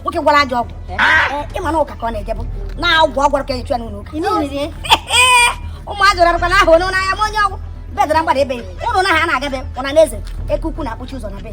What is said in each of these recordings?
nwoke gwọrọ ajọ ọgwụ ịma na ụka ka ọ na-ejebụ na ọgwụ ọ gwọrọ ka e ji chụ ya n'ụlọ ụka ụmụazị rarụkwa na ahụ onye n'anya ma onye ọgwụ bedara mgbada ebe unu na ha na-agabe ụna na eze eke ukwu na-akpụchi ụzọ na be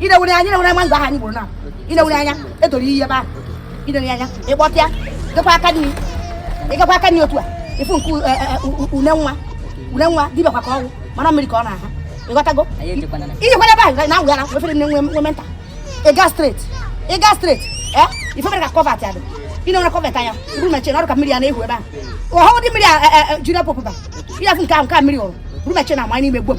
ịnewere anya ịnewere anya na mango ahụ anyị gburu na ịnewere anya edoro ihe ebe ahụ ịnewere anya ịkpọtịa jekwa aka nri ịgakwa aka nri otu a ịfụ nke e, e, e, une nwa une nwa dibịa kwa ka ọ wụ mana mmiri ka ọ na-aha ịghọtago i jekwara ebe ahụ na ngwa na efere nne nwe menta ịga straight ịga straight ee ife mere ka culvert ya dị ịnewere culvert anya bụrụ mechie na ọrụ ka mmiri ya na-ehu ebe ahụ ọhụụ dị mmiri a Junior Pope ba ị ya-afụ nke ahụ nke a mmiri hụrụ bụrụ mechie na ama n'ime gbom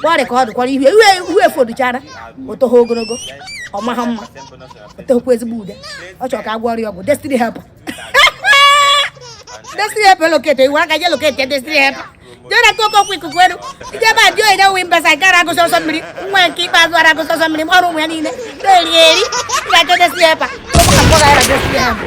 kpọrị ka ọ dịkwara ihu ihu ihu efoduchara o toha ogologo ọ maha mma o tekwu ezigbo ude ọ chọrọ ka a gwọrọ ya ọgwụ destiny helper destiny helper locate iwu aka je locate destiny helper jere ka Okonkwo ikuku enu ije ebe a dị onye nwe mbasa nke ara agụsị ọsọ mmiri nwa nke ikpeazụ ara agụsị ọsọ mmiri m ọrụ ụmụ ya niile na-eri eri ga-achọ destiny helper ọ bụ ka m kpọga ya na destiny helper